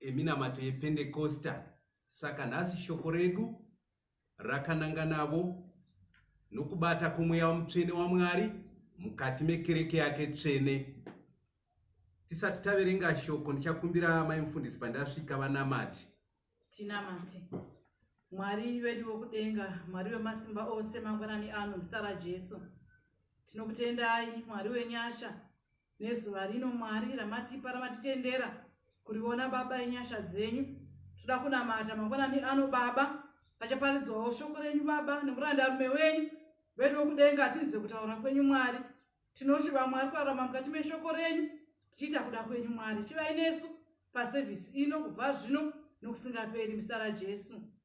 eminamato yependekosta saka nhasi shoko redu rakananga navo nokubata kwomweya wamutsvene wamwari mukati mekereke yake tsvene tisati taverenga shoko ndichakumbira mai mufundisi pandasvika vanamati tinamate mwari vedu wokudenga mwari wemasimba ose mangwanani ano muzita rajesu tinokutendai mwari wenyasha nezuva rino mwari ramatipa ramatitendera kuriona baba inyasha dzenyu toda kunamata mangwanani ano baba pachaparidzwawo shoko renyu baba nemuranda rume wenyu vedu wekudenga tinzwe kutaura kwenyu mwari tinoshuva mwari kurarama mukati meshoko renyu tichiita kuda kwenyu mwari chivai nesu pasevhisi ino kubva zvino nokusingaperi muzita rajesu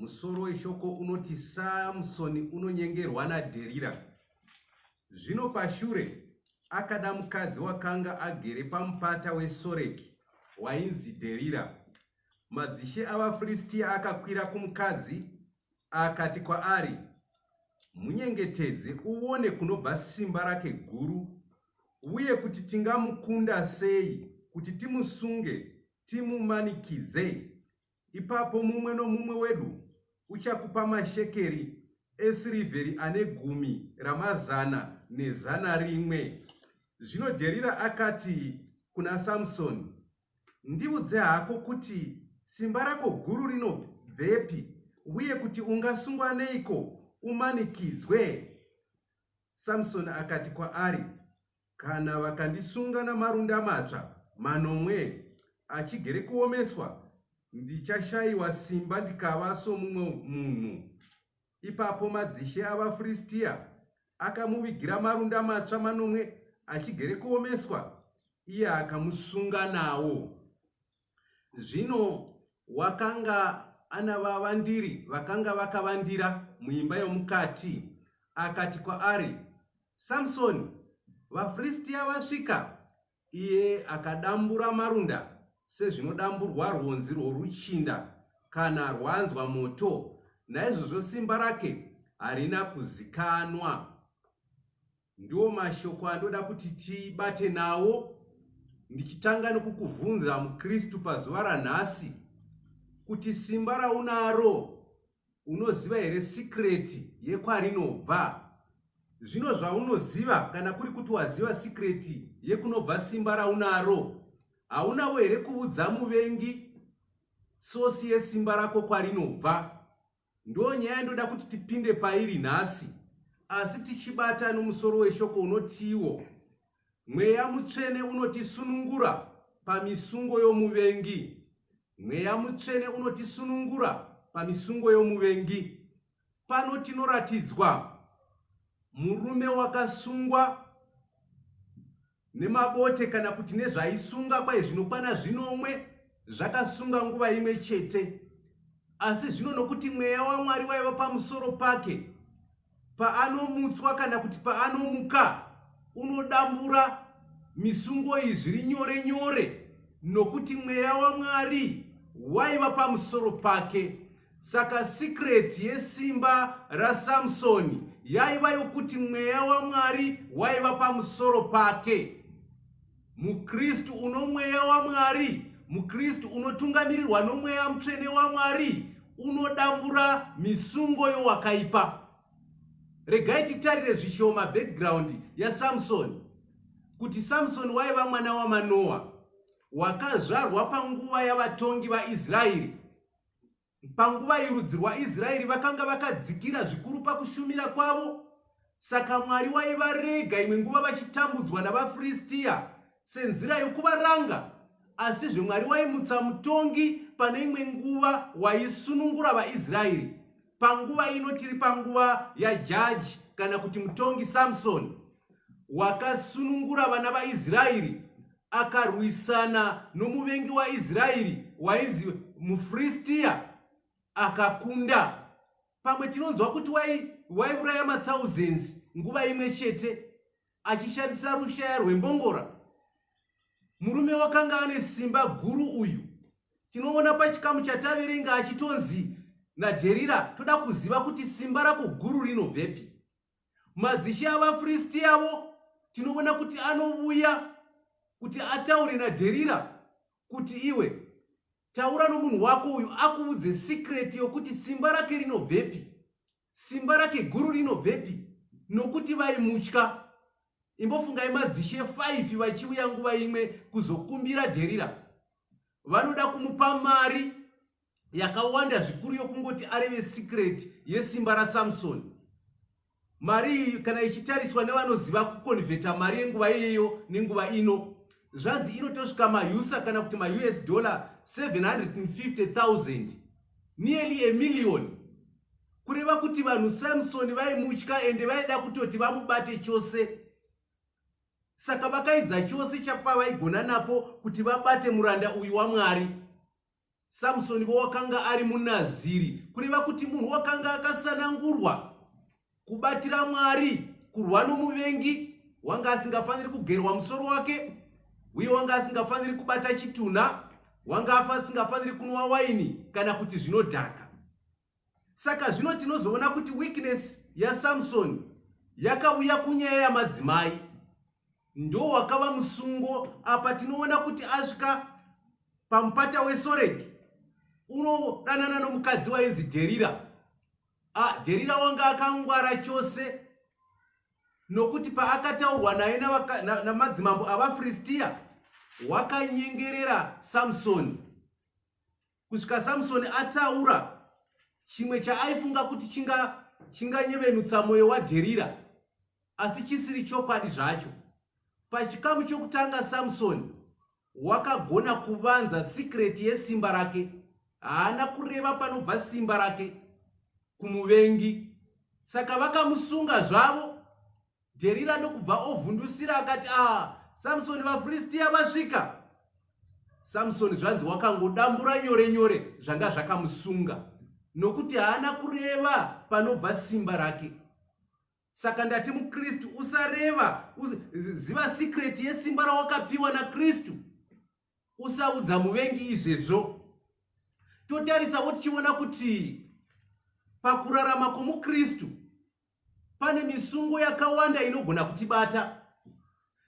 Musoro weshoko unoti Samsoni unonyengerwa naDherira. Zvino pashure akada mukadzi wakanga agere pamupata weSoreki wainzi Dherira. Madzishe avaFiristia akakwira kumukadzi akati kwaari, Munyengetedze uone kunobva simba rake guru, uye kuti tingamukunda sei kuti timusunge Timumanikidze, ipapo mumwe nomumwe wedu uchakupa mashekeri esirivheri ane gumi ramazana nezana rimwe. Zvino Dherira akati kuna Samsoni, Ndiudze hako kuti simba rako guru rinobvepi, uye kuti ungasungwa neiko umanikidzwe? Samsoni akati kwaari, Kana vakandisunga namarunda matsva manomwe achigere kuomeswa, ndichashayiwa simba ndikava somumwe munhu. Ipapo madzishe avaFiristia akamuvigira marunda matsva manomwe achigere kuomeswa, iye akamusunga nawo. Zvino wakanga ana vavandiri vakanga vakavandira muimba yomukati, akati kwaari, Samsoni, vaFiristia vasvika! Iye akadambura marunda sezvinodamburwa rwonzi rworuchinda kana rwanzwa moto, naizvozvo simba rake harina kuzikanwa. Ndiwo mashoko andoda kuti tibate nawo ndichitanga nokukuvhunza muKristu pazuva ranhasi kuti simba raunaro unoziva here sikireti yekwarinobva? Zvino zvaunoziva kana kuri kuti waziva sikireti yekunobva simba raunaro, haunavo here kuvudza muvengi sosi yesimba rako kwarinobva? Ndo nyaya ndoda kuti tipinde pairi nhasi asi tichibata nomusoro weshoko unotiwo mweya mutsvene unotisunungura pamisungo yomuvengi mweya mutsvene unotisunungura pamisungo yomuvengi pano tinoratidzwa murume wakasungwa nemabote kana kuti nezvaisunga kwai zvinokwana zvinomwe zvakasunga nguva imwe chete asi zvino nokuti mweya wamwari waiva pamusoro pake paanomutswa kana kuti paanomuka unodambura misungo iyi zviri nyore nyore nokuti mweya wamwari waiva pamusoro pake Saka secret yesimba raSamsoni yaiva yokuti mweya waMwari waiva pamusoro pake. MuKristu uno mweya waMwari, muKristu unotungamirirwa nomweya mutsvene waMwari unodambura misungo yowakaipa. Regai titarire zvishoma background yaSamsoni kuti Samsoni waiva mwana waManoa wakazvarwa panguva yavatongi vaIsraeri Panguva iyi rudzi rwaIsraeri vakanga vakadzikira zvikuru pakushumira kwavo, saka Mwari waivarega imwe nguva vachitambudzwa navaFiristiya senzira yokuvaranga. Asizve Mwari waimutsa mutongi pane imwe nguva waisunungura vaIsraeri. Panguva ino tiri panguva yajaji kana kuti mutongi Samsoni wakasunungura vana vaIsraeri akarwisana nomuvengi waIsraeri wainzi muFristiya akakunda. Pamwe tinonzwa kuti waiuraya mathousands nguva imwe chete achishandisa rushaya rwembongora. Murume wakanga ane simba guru uyu. Tinoona pachikamu chataverenga achitonzi naDherira toda kuziva kuti simba rako guru rinobvepi. Madzishe avaFristi avo tinoona kuti anovuya kuti ataure naDherira kuti iwe taura nomunhu wako uyu akuvudze sikreti yokuti simba rake rinobvepi, simba rake guru rinobvepi, nokuti vaimutya. Imbofungai madzishe 5 vachivuya nguva imwe kuzokumbira Dherira. Vanoda kumupa mari yakawanda zvikuru yokungoti areve secret yesimba rasamsoni mari iyi kana ichitariswa nevanoziva kukonvheta mari yenguva iyeyo nenguva ino zvanzi inotosvika mausa kana kuti maus dollar 750000 nearly emillion kureva kuti vanhu samsoni vaimutya ende vaida kutoti vamubate chose saka vakaidza chose chapavaigona napo kuti vabate muranda uyu wamwari Samsoni wo wakanga ari munaziri, kureva kuti munhu wakanga akasanangurwa kubatira Mwari, kurwa nomuvengi, wanga asingafaniri kugerwa musoro wake, uye wanga asingafaniri kubata chitunha, wanga asingafaniri kunwa waini kana kuti zvinodhaka. Saka zvino tinozoona kuti weakness yaSamsoni yakauya kunyaya yamadzimai ndo wakava musungo apa tinoona kuti asvika pamupata wesoreki unodanana nomukadzi wainzi dherira ah, dherira wanga akangwara chose nokuti paakataurwa naye namadzimambo na, na avafiristiya wakanyengerera samsoni Kusvika Samsoni ataura chimwe chaaifunga kuti chinganyevenutsa chinga mwoyo waDherira, asi chisiri chokwadi zvacho. Pachikamu chokutanga, Samsoni wakagona kuvanza sikireti yesimba rake. Haana kureva panobva simba rake kumuvengi, saka vakamusunga zvavo Dherira ndokubva ovhundusira akati, Ah, Samsoni, vaFiristiya vasvika! Samsoni zvanzi wakangodambura nyore nyore zvanga zvakamusunga, nokuti haana kureva panobva simba rake. Saka ndati muKristu, usareva, ziva sikreti yesimba rawakapiwa naKristu. Usaudza muvengi izvezvo. Totarisavo tichiona kuti pakurarama kwomuKristu, pane misungo yakawanda inogona kutibata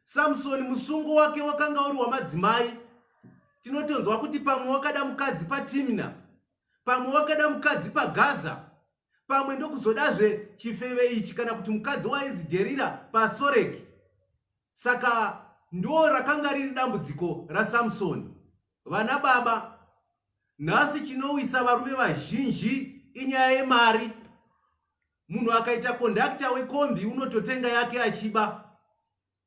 samsoni musungo wake wakanga uri wamadzimai tinotonzwa kuti pamwe wakada mukadzi patimina pamwe wakada mukadzi pagaza pamwe ndokuzodazve chifeve ichi kana kuti mukadzi wainzi dherira pasoreki saka ndo rakanga riri dambudziko rasamsoni Vana baba, nhasi chinowisa varume vazhinji inyaya yemari. Munhu akaita kondakita wekombi unototenga yake achiba.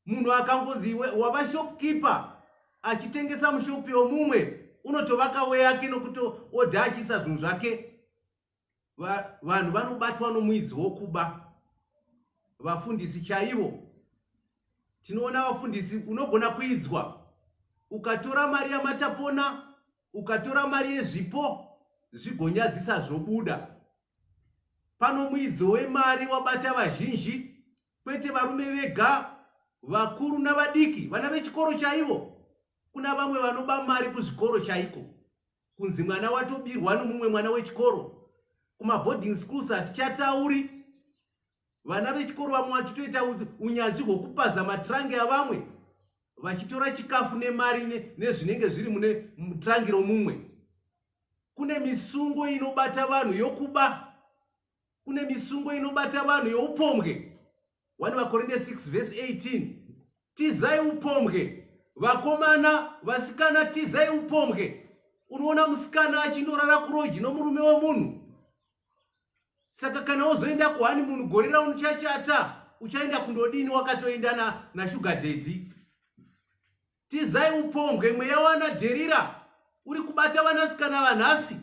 Munhu akangonzi wava shopkeeper achitengesa mushopi yomumwe unotovaka weyake nokuti odha achiisa zvinhu zvake. vanhu vanobatwa nomuidzi wokuba vafundisi chaivo tinoona vafundisi unogona kuidzwa ukatora mari yamatapona ukatora mari yezvipo zvigonyadzisa zvobuda pano muidzi wemari wabata vazhinji kwete varume vega vakuru navadiki vana vechikoro chaivo kuna vamwe vanoba mari kuzvikoro chaiko kunzi mwana watobirwa nomumwe mwana wechikoro kumaboarding schools hatichatauri vana vechikoro vamwe vachitoita unyanzvi hwokupaza matrangi avamwe vachitora chikafu nemari nezvinenge zviri mune trangi romumwe kune misungo inobata vanhu yokuba kune misungo inobata vanhu youpombwe 1 vakorinde 6 vhesi 18 tizai upombwe vakomana vasikana tizai upombwe unoona musikana achinorara kuroji nomurume wemunhu saka kana wozoenda kuhani munhu gore raunochachata uchaenda kundodini wakatoenda nashuga dhedhi tizai upombwe mweya wana dherira uri kubata vanasikana vanhasi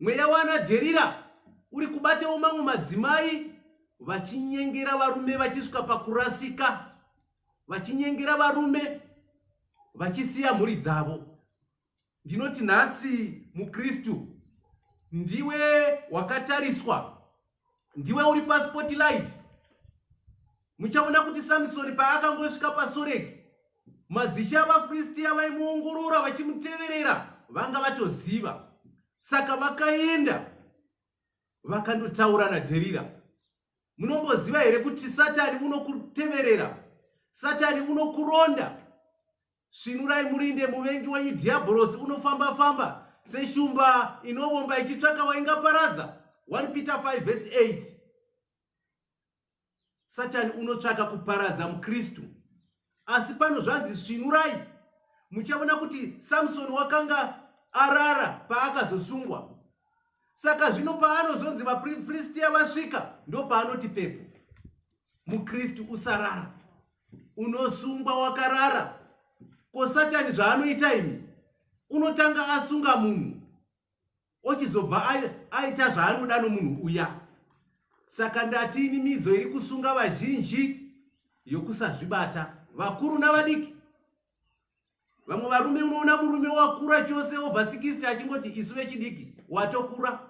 Mweya waana Dherira uri kubatawo mamwe madzimai vachinyengera varume vachisvika pakurasika, vachinyengera varume vachisiya mhuri dzavo. Ndinoti nhasi muKristu ndiwe wakatariswa ndiwe uri paspotlight muchaona kuti samisoni paakangosvika pasoreki madzishe avafristiya vaimuongorora vachimuteverera vanga vatoziva saka vakaenda vakandotaura naderira munomboziva here kuti satani unokuteverera satani unokuronda Svinurai murinde muvengi wenyu Dhiabhorosi unofamba-famba seshumba inovomba ichitsvaka waingaparadza. 1 Peter 5 vhesi 8 Satani unotsvaka kuparadza muKristu. Asi pano zvanzi svinurai. Muchaona kuti Samsoni wakanga arara paakazosungwa. Saka zvino paanozonzi vaFiristiya vasvika, ndopaanoti pepo. mukristu usarara unosungwa wakarara ko satani zvaanoita ini unotanga asunga munhu ochizobva aita zvaanoda nomunhu uya saka ndati ini midzo iri kusunga vazhinji yokusazvibata vakuru navadiki vamwe varume unoona murume wakura chose over 60 achingoti isu vechidiki watokura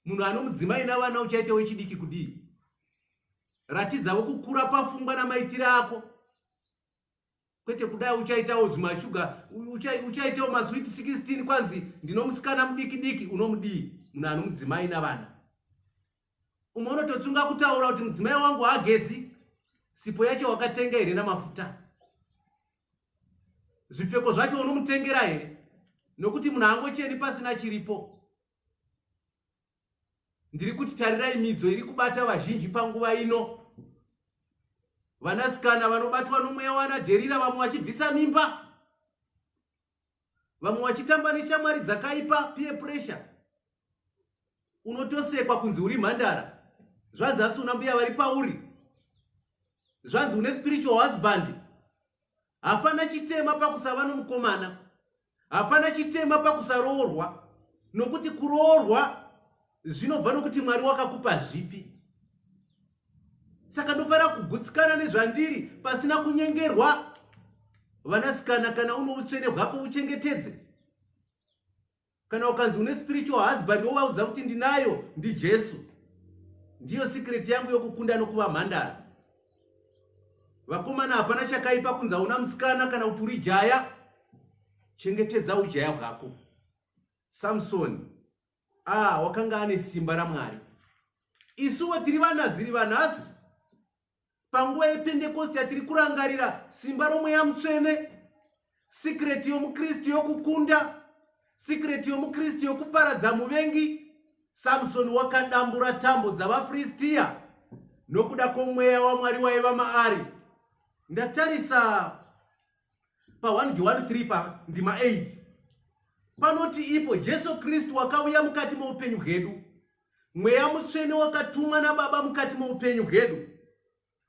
munhu ano mudzimai navana uchaita wechidiki kudii ratidzavo kukura pafungwa namaitiro ako kwete kudai uchaitawo zvimashuga uchaitawo maswit 16 kwanzi ndinomusikana mudiki diki unomudii munhu ano mudzimai navana umwe unototsunga kutaura kuti mudzimai wangu hagezi sipo yacho wakatenga here namafuta zvipfeko zvacho unomutengera here nokuti munhu angocheni pasina chiripo ndiri kuti tarirai midzo iri kubata vazhinji panguva ino vanasikana vanobatwa nomweya wanadherira vamwe vachibvisa mimba vamwe vachitamba neshamwari dzakaipa peer pressure unotosekwa kunzi uri mhandara zvanzi asuna mbuya vari pauri zvanzi une spiritual husband hapana chitema pakusava nomukomana Hapana chitema pakusaroorwa nokuti kuroorwa zvinobva nokuti Mwari wakakupa zvipi. Saka ndofanira kugutsikana nezvandiri pasina kunyengerwa. Vanasikana kana uno utsvene hwako uchengetedze. Kana ukanzi une spiritual husband wovaudza kuti ndinayo ndiJesu. Ndiyo secret yangu yokukunda nokuva mhandara. vakomana hapana chakaipa kunzi hauna musikana kana kuti uri jaya chengetedza ujaya hwako samsoni a ah, wakanga ane simba ramwari isuwo tiri vanaziri vanhasi panguva yependekosti yatiri kurangarira simba romweya mutsvene Secret yomuKristu yokukunda, secret yomuKristu yokuparadza muvengi. Samsoni wakadambura tambo dzavaFiristiya nokuda kwomweya waMwari waiva maari. Ndatarisa pa 1 Johani 3 pa ndima 8 panoti ipo Jesu Kristu wakauya mukati moupenyu hwedu, mweya mutsvene wakatumwa naBaba mukati moupenyu hwedu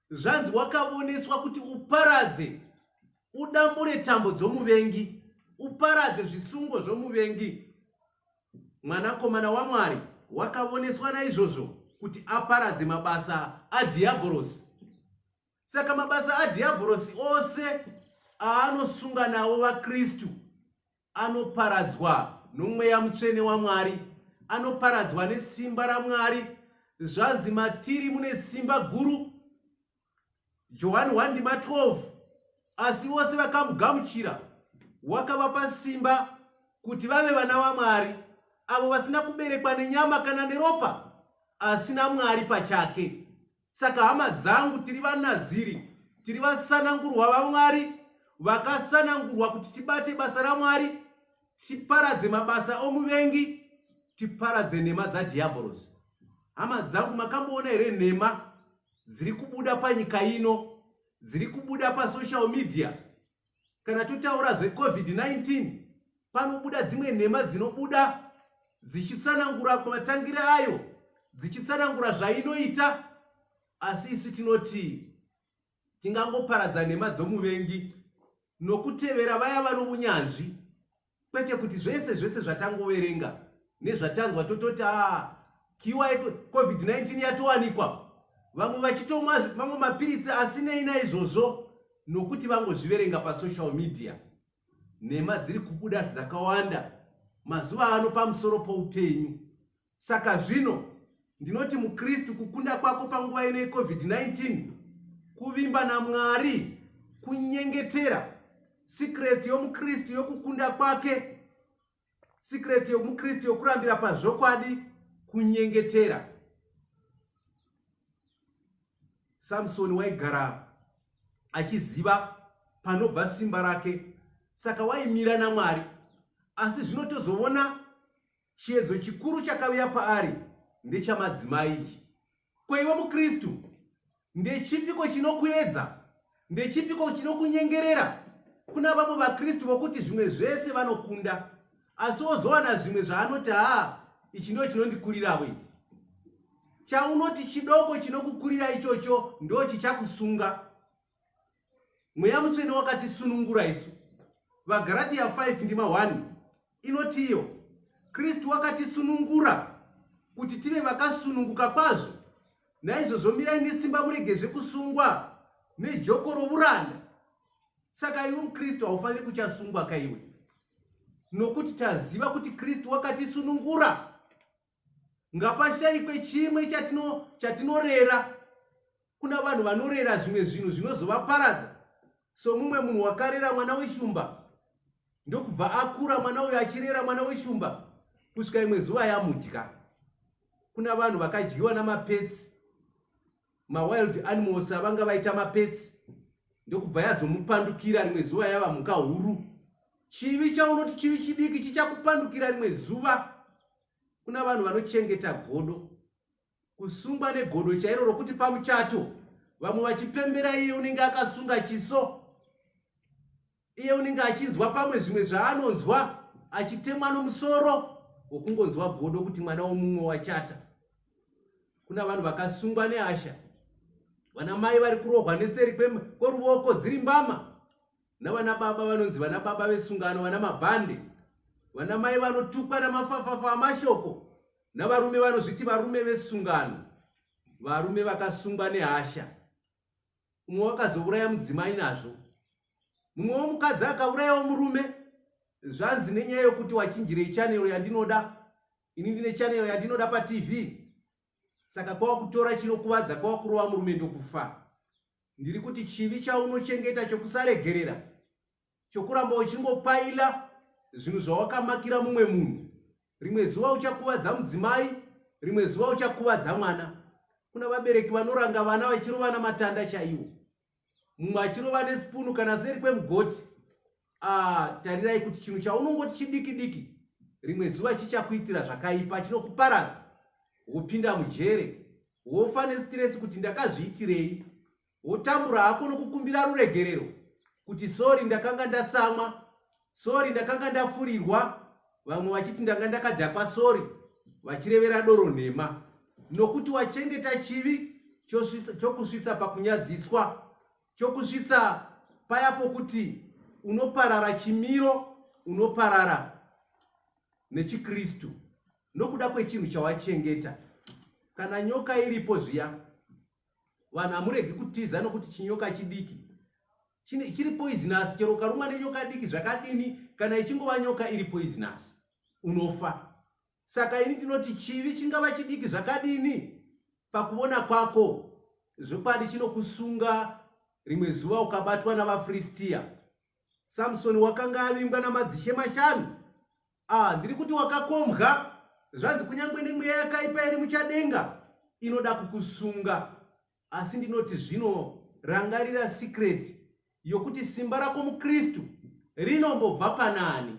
zvanzi wakavoneswa kuti uparadze udambure tambo dzomuvengi uparadze zvisungo zvomuvengi mwanakomana wamwari wakavoneswa naizvozvo kuti aparadze mabasa adhiyabhorosi saka mabasa adhiyabhorosi ose aanosunga nawo vakristu anoparadzwa nomweya mutsvene wamwari anoparadzwa nesimba ramwari zvanzi matiri mune simba guru johani 1 ndima 12 asi vose vakamugamuchira wakavapa simba kuti vave vana vamwari avo vasina kuberekwa nenyama kana neropa asi namwari pachake Saka hama dzangu, tiri vaNaziri, tiri vasanangurwa vaMwari, vakasanangurwa kuti tibate basa raMwari, tiparadze mabasa omuvengi, tiparadze nhema dzadhiyabhorosi. Hama dzangu, makamboona here nhema dziri kubuda panyika ino, dziri kubuda pasocial media? kana totaura zvecovid-19 panobuda dzimwe nhema dzinobuda dzichitsanangura kumatangire ayo dzichitsanangura zvainoita asi isu tinoti tingangoparadza nhema dzomuvengi nokutevera vaya vano unyanzvi Kwete kuti zvese zvese zvatangoverenga nezvatanzwa tototi a kiwa covid-19 yatowanikwa vamwe vachitomwa mamwe mapiritsi asinei naizvozvo nokuti vangozviverenga pasocial media nhema dziri kubuda dzakawanda mazuva ano pamusoro poupenyu Saka zvino, ndinoti muKristu, kukunda kwako panguva ino yeCovid-19, kuvimba naMwari, kunyengetera, sikireti yomuKristu yokukunda kwake, sikireti yomuKristu yokurambira pazvokwadi, kunyengetera. Samsoni waigara achiziva panobva simba rake, saka waimira naMwari. Asi zvino tozovona Chiedzo chikuru chakaviya paari ndechamadzimai ichi. Ko iwe muKristu, ndechipiko chinokuedza? Ndechipiko chinokunyengerera? Kuna vamwe vaKristu vokuti zvimwe zvese vanokunda, asi wozowana zvimwe zvaanoti haa, ichi ndo chinondikuriravo ichi. Chaunoti chidoko chinokukurira ichocho ndo chichakusunga. mweya mutsvene wakatisunungura isu vagaratiya 5 ndima 1 inoti iyo kristu wakatisunungura kuti tive vakasununguka kwazvo naizvozvo mirai nesimba murege zvekusungwa nejoko rouranda saka iwe mukristu haufaniri kuchasungwa kaiwe nokuti taziva kuti kristu wakatisunungura Ngapashaikwe chimwe chatino chatinorera kuna vanhu vanorera zvimwe zvinhu zvinozovaparadza somumwe munhu wakarera mwana weshumba ndokubva akura mwana uyo achirera mwana weshumba kusvika imwe zuva yamudya kuna vanhu vakadyiwa namapetsi mawild animals avanga vaita mapetsi ndokubva yazomupandukira rimwe zuva yava mhuka huru chivi chaunoti chivi chidiki chichakupandukira rimwe zuva kuna vanhu vanochengeta godo kusungwa negodo chairo rokuti pamuchato vamwe vachipembera iye unenge akasunga chiso iye unenge achinzwa pamwe zvimwe zvaanonzwa achitemwa nomusoro wokungonzwa godo kuti mwana womumwe wachata kuna vanhu vakasungwa nehasha vana mai vari kurohwa neseri kweruvoko dziri mbama navana baba vanonzi vana baba vesungano vana mabhande vana mai vanotukwa namafafafa amashoko navarume vanozviti varume vesungano varume vakasungwa nehasha umwe wakazouraya mudzimai nazvo mumwewo mukadzi akaurayawo murume zvanzi nenyaya yokuti wachinjirei chanero yandinoda ini ndine chanero yandinoda patv saka kwava kutora chinokuvadza kwava kurova murume ndokufa ndiri kuti chivi chaunochengeta chokusaregerera chokuramba uchingopaila zvinhu zvawakamakira mumwe munhu rimwe zuva uchakuvadza mudzimai rimwe zuva uchakuvadza mwana kuna vabereki vanoranga vana vachirovana matanda chaiwo mumwe achirova nesipunu kana seri kwemugoti ah, tarirai kuti chinhu chaunongoti chidiki diki rimwe zuva chichakuitira zvakaipa chinokuparadza wopinda mujere wofa nesitiresi kuti ndakazviitirei Wotambura hako nokukumbira ruregerero kuti sori ndakanga ndatsamwa, sori ndakanga ndafurirwa, vamwe vachiti ndanga ndakadhakwa sori vachirevera doro nhema nokuti wachengeta chivi chokusvitsa pakunyadziswa chokusvitsa paya pokuti unoparara chimiro unoparara nechikristu nokuda kwechinhu chawachengeta kana nyoka iripo zviya vanhu hamuregi kutiza nokuti chinyoka chidiki chiri poisonous chero ukarumwa nenyoka diki zvakadini kana ichingova nyoka iri poisonous unofa saka ini ndinoti chivi chingava chidiki zvakadini pakuvona kwako zvokwadi chinokusunga rimwe zuva ukabatwa navafiristiya samsoni wakanga avingwa namadzishe mashanu Ah, ndiri kuti wakakombwa zvanzi kunyange nemweya yakaipa iri muchadenga inoda kukusunga asi ndinoti zvino rangarira secret yokuti simba rako mukristu rinombobva panani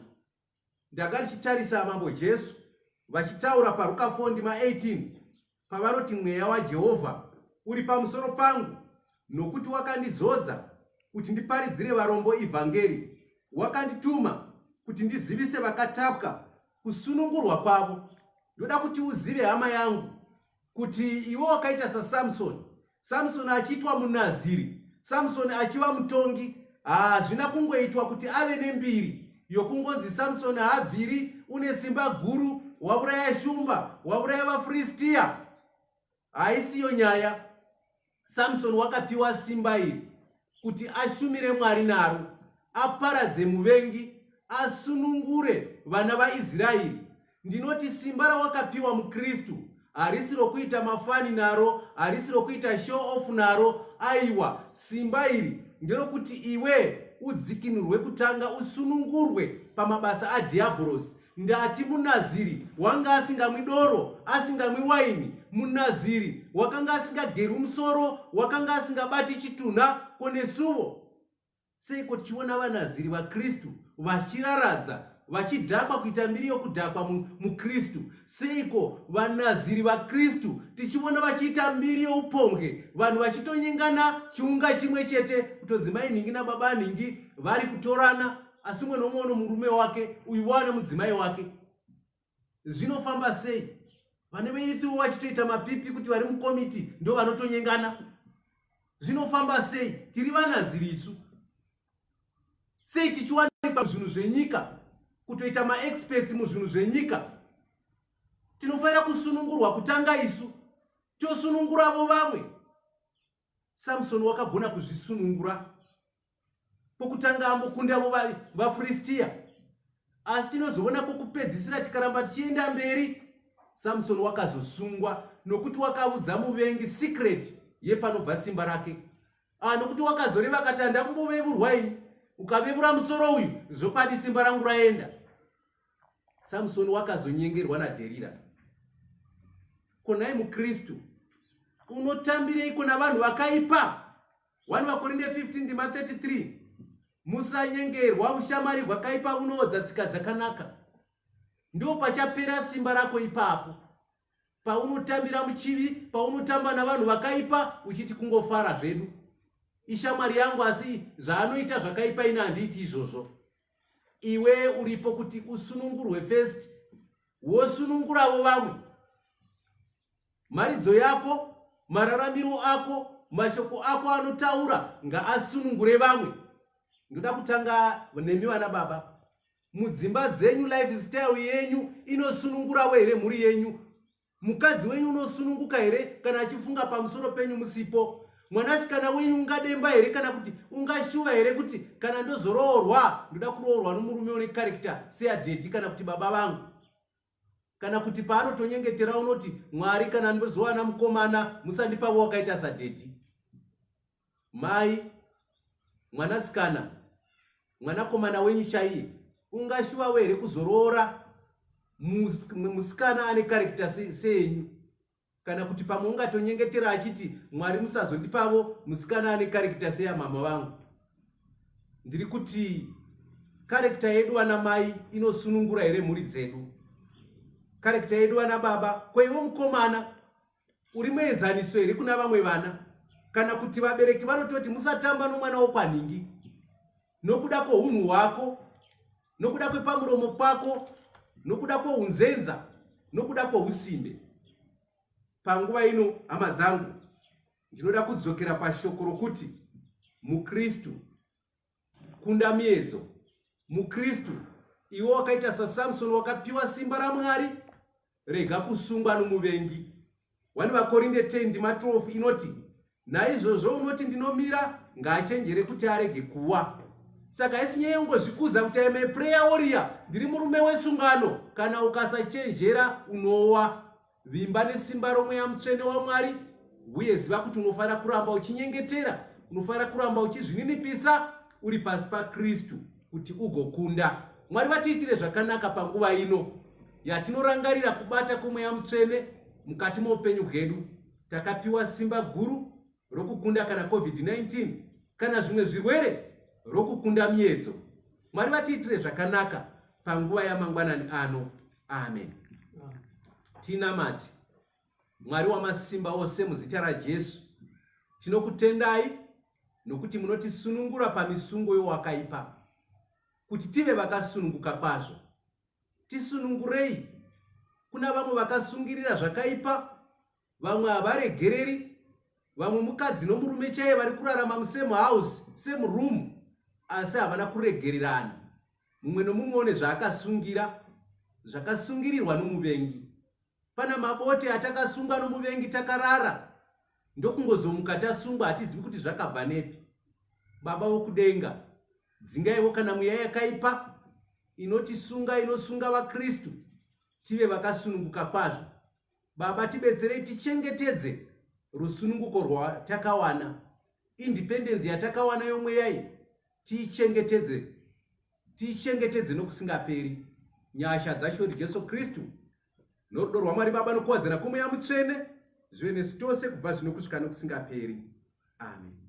ndanga ndichitarisa mambo jesu vachitaura paruka 4 ndima 18 pavanoti mweya waJehovha uri pamusoro pangu nokuti wakandizodza kuti ndiparidzire varombo ivhangeri wakandituma kuti ndizivise vakatapwa kusunungurwa kwavo ndoda kuti uzive hama yangu kuti iwe wakaita sasamsoni samsoni achiitwa munaziri samsoni achiva mutongi hazvina kungoitwa kuti ave nembiri yokungonzi samsoni haabviri une simba guru wauraya shumba wauraya vafristiya haisiyo nyaya samsoni wakapiwa simba iri kuti ashumire Mwari naro, aparadze muvengi, asunungure vana vaIsraeri. Ndinoti simba rawakapiwa muKristu harisi rokuita mafani naro, harisi rokuita show off naro. Aiwa, simba iri nderokuti iwe udzikinurwe kutanga, usunungurwe pamabasa adhiabhorosi. Ndati muNaziri wanga asingamwi doro, asingamwi waini, muNaziri wakanga asingagerwi musoro, wakanga asingabati chitunha, ko nesuvo? Seiko tichiona vaNaziri vaKristu vachiraradza, vachidhakwa kuita mbiri yokudhakwa muKristu? Seiko vaNaziri vaKristu tichiona vachiita mbiri youpombwe, vanhu vachitonyengana chiunga chimwe chete, kutonzi mai nhingi nababa nhingi vari kutorana? asi umwe nomwe uno murume wake uyu waane mudzimai wake zvinofamba sei vane veithiwo vachitoita mapipi kuti vari mukomiti ndo vanotonyengana zvinofamba sei tiri vanaziri isu sei tichiwanikwa zvinhu zvenyika kutoita maexperts muzvinhu zvenyika tinofanira kusunungurwa kutanga isu tosununguravo vamwe Samson wakagona kuzvisunungura pokutanga ambokunda vo vafiristia asi tinozoona pokupedzisira tikaramba tichienda mberi samsoni wakazosungwa nokuti wakaudza muvengi secret yepanobva simba rake ah, nokuti wakazoreva akati handambovevurwa ini ukavevura musoro uyu zvokadi simba rangu raenda samsoni wakazonyengerwa nadherira konai mukristu unotambireiko navanhu vakaipa 1 vakorinde 15 ndima 33 musanyengerwa ushamwari hwakaipa unoodza tsika dzakanaka ndo pachapera simba rako ipapo paunotambira muchivi paunotamba navanhu vakaipa uchiti kungofara zvedu ishamwari yangu asi zvaanoita zvakaipa ini handiiti izvozvo iwe uripo kuti usunungurwe first wosununguravo vamwe mharidzo yako mararamiro ako mashoko ako anotaura ngaasunungure vamwe ndoda kutanga nemi vana baba mudzimba dzenyu lifestyle yenyu inosununguravo here mhuri yenyu mukadzi wenyu unosununguka here kana achifunga pamusoro penyu musipo mwanasikana wenyu ungademba here kana kuti ungashuva here kuti kana ndozoroorwa ndoda kuroorwa nomurume une karekta seadhedhi kana kuti baba vangu kana kuti paanotonyengetera unoti mwari kana ndozowana mukomana musandipavo wakaita sadhedhi Mai, mwanasikana, mwanakomana wenyu chaiye, ungashuvawo here kuzoroora musikana ane karekita seenyu? Kana kuti pamwe ungatonyengetera achiti, Mwari musazondipavo musikana ane karekita seyamama vangu. Ndiri kuti karekita yedu vana mai inosunungura here mhuri dzedu? Karekita yedu vana baba, ko ivo mukomana uri muenzaniso here kuna vamwe vana kana kuti vabereki vanototi musatamba nomwana wokwanhingi nokuda kwounhu hwako nokuda kwepamuromo kwako nokuda kwounzenza nokuda kwousimbe panguva ino hama dzangu ndinoda kudzokera pashoko rokuti mukristu Kunda miedzo. MuKristu, iwe wakaita saSamsoni wakapiwa simba raMwari, rega kusungwa nomuvengi. 1 Vakorinde 10 ndima 12 inoti, Naizvozvo unoti ndinomira, ngaachenjere kuti arege kuwa. Saka haisi nyaya yongozvikudza kuti aime prayer warrior, ndiri murume wesungano, kana ukasachenjera unowa. Vimba nesimba romweya mutsvene waMwari, uye ziva kuti unofanira kuramba uchinyengetera, unofanira kuramba uchizvininipisa uri pasi paKristu kuti ugokunda. Mwari vatiitire zvakanaka panguva ino yatinorangarira kubata kwomweya mutsvene mukati moupenyu hwedu. Takapiwa simba guru rokukunda kana COVID-19 kana zvimwe zvirwere rokukunda miedzo. Mwari vatiitire zvakanaka panguva yamangwanani ano. Amen. Tinamati Mwari wamasimba ose muzita raJesu. Tinokutendai nokuti munotisunungura pamisungo yowakaipa kuti tive vakasununguka kwazvo. Tisunungurei kuna vamwe vakasungirira zvakaipa vamwe havaregereri vamwe mukadzi nomurume chaiye vari kurarama musame house same room asi havana kuregererana mumwe nomumwe one zvaakasungira zvakasungirirwa nomuvengi pana mabote atakasungwa nomuvengi takarara ndokungozomuka tasungwa hatizivi kuti zvakabva nepi baba vokudenga dzingaivo kana mweya yakaipa inotisunga inosunga vakristu tive vakasununguka kwazvo Baba tibetserei tichengetedze rusununguko rwatakawana, independence yatakawana yomweya iyi tiichengetedze, tiichengetedze nokusingaperi. Nyasha dzaShori Jesu Kristu norudo rwaMwari Baba nokuwadzana kwomweya mutsvene zvive nesu tose kubva zvino kusvika nokusingaperi. Amen.